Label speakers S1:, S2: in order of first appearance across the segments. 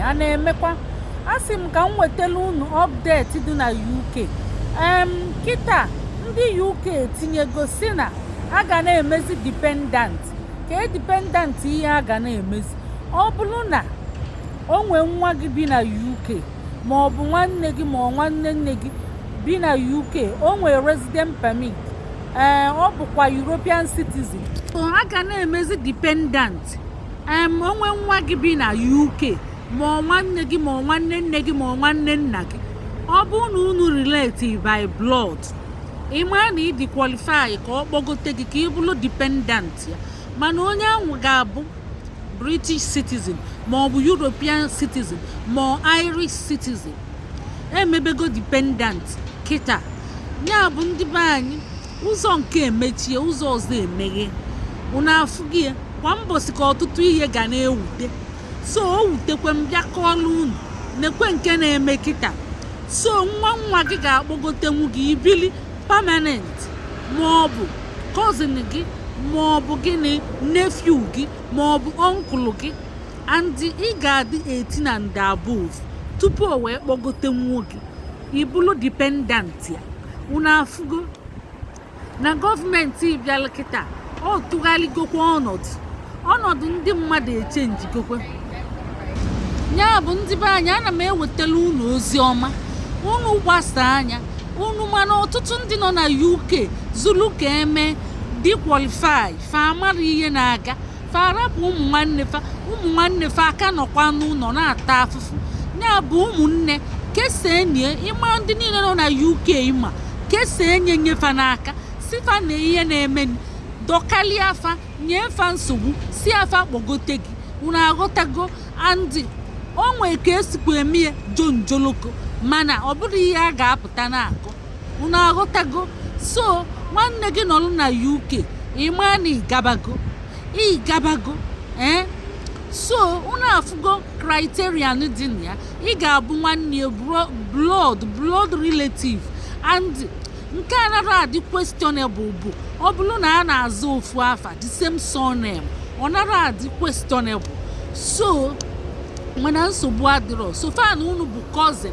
S1: a na-emekwa asị m ka m wetara unu update dị na UK em kịta ndị UK etinyego sị na a ga na-emezi dependent ka e dependent ihe a ga na-emezi ọ bụrụ na o nwee nwa gị bi na UK ma ọ bụ nwanne gị ma ọ nwanne nne gị bi na UK o nwee resident permit ee ọ bụkwa European citizen so a ga na-emezi dependent em o nwee nwa gị bi na UK ma ọ nwanne gị ma ọ nwanne nne gị ma ọ nwanne nna gị ọ bụ na unu relate by blood ị maa na ị dị qualify ka ọ kpọgote gị ka ị bụrụ dependent ya mana onye ahụ ga-abụ british citizen ma ọ bụ european citizen ma ọ irish citizen emebego dependent kịta ya bụ ndị be anyị ụzọ nke e mechie ụzọ ọzọ emeghe unu afụgo ya kwa mbọsị ka ọtụtụ ihe ga na-ewute so o wutekwe m bịa kọọlụ unu nekwe nke na-eme kịta so nwa nwa gị ga-akpọgotenwu gị i bili permanent ma ọ bụ cousin gị ma ọ bụ gịnị nephew gị ma ọ bụ uncle gị and ị ga-adị 18 and above tupu o wee kpọgotenwu gị ị bụlụ dependent ya unu afụgo na gọọmenti bịara kịta ọ tụgharịgokwa ọnọdụ ọnọdụ ndị mmadụ echenjigokwe ya bụ ndị be anyị ana m ewetara unu ozi ọma unu gbasa anya unu mana ọtụtụ ndị nọ na uk zuru ka e mee dị qualify fa amara ihe na-aga fa arapụ ụmụ nwanne fa ụmụ nwanne fa aka nọkwa n'ụlọ na-ata afụfụ ya bụ ụmụnne kesaa nye ị ma ndị niile nọ na uk ị ma kesaa nye nye fa n'aka sị fa na ihe na-eme dọkalịa fa nye fa nsogbu sị fa kpọgote gị unu aghọtago and o nwee ka e sikwa eme ya jonjoloko mana ọ bụrụ ihe a ga-apụta na-akọ unu aghọtago so nwanne gị nọrọ na uk ị maa na ị gabago ị gabago ee eh? so unu afụgo criterion dị na ya ị ga-abụ nwanne ya blood blood relative and nke anara adị questionable bụ ọ bụrụ na a na-aza ofu afa the same surname ọ nara adị questionable so mana nsogbu adịrọ so far na unu bụ cousin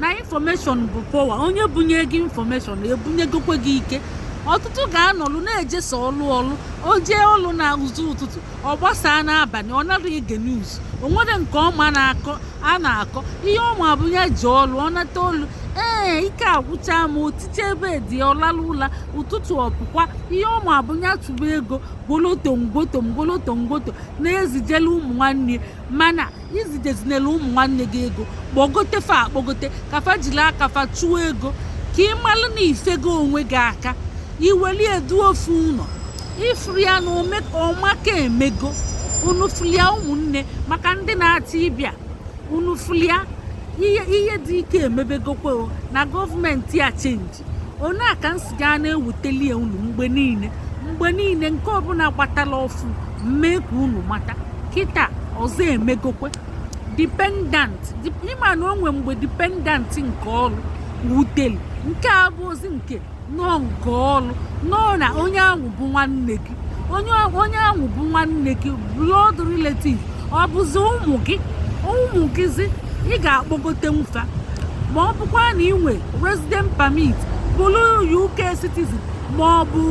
S1: na information bụ power onye bunye gị information ebunyegokwe gị ike ọtụtụ ga-anọlụ na-eje sọ ọlụ ọlụ o jee ọlụ na ụzụ ụtụtụ ọ gbasaa n'abalị ọ nara ege news o nwere nke ọ ma na a na-akọ ihe ọ ma bụ ya jee ọlụ ọ nata ọlụ ee ike agwụcha ma o tite bed ọ lalụ ụla ụtụtụ ọ pụkwa ihe ọ ma bụ ya chụba ego goloto ngwoto ngoloto ngwoto na-ezijela ụmụ nwanne mana ezidezinala ụmụ nwanne gị ego kpọgote fa akpọgote ka fa jiri aka fa chụọ ego ka ị malụ na ifego onwe gị aka iweli edu ofu ụlọ ị fụlụ ya na ọmaka emego unu fụlụ ya ụmụnne maka ndị na-achọ ịbịa unu fụlụ ya ihe dị ike emebegokwa o na gọọmenti a chenji onye a ka m si gaa na-ewuteli ya unu mgbe niile mgbe niile nke ọbụla gbatala ọfụụ m mee ka unu mata kịta ọzọ emegokwe dependant ị ma na o nwe mgbe dependant nke ọrụ wuteli nke a abụrọzi nke nọọ nke ọlụ nọọ na onye ahụ bụ nwanne gị onye ahụ bụ nwanne gị blood relative ọ bụzi ụmụ gị ụmụ gịzi ị ga-akpọgote fa ma ọ bụkwa na i nwe resident permit bụrụ UK citizen ma ọ bụ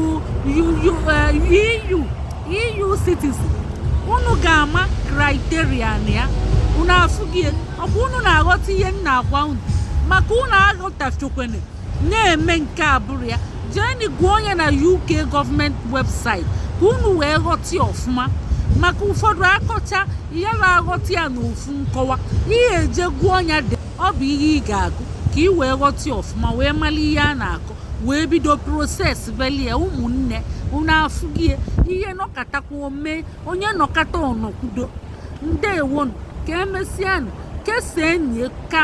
S1: EU eh, EU e citizen unu ga-ama criterion ya unu afụgo ya ọ bụ unu na-aghọta ihe m na-agwa unu maka unu aghọtachokwene na-eme nke abụrọ ya jeenụ gụọ nya na UK gọọmenti webụsaịtị ka unu wee ghọta ya ọfụma maka ụfọdụ akọcha ya na-aghọta ya n'ofu nkọwa ihe eje gụọ nya dị ọ bụ ihe ị ga-agụ ka ị wee ghọta ya ọfụma wee mara ihe a na-akọ wee bido process belie ụmụnne unu afụgo ya ihe nọkatakwa mee onye nọkata ọ nọkwudo ndewonu ka emesianụ kesaa enyi ka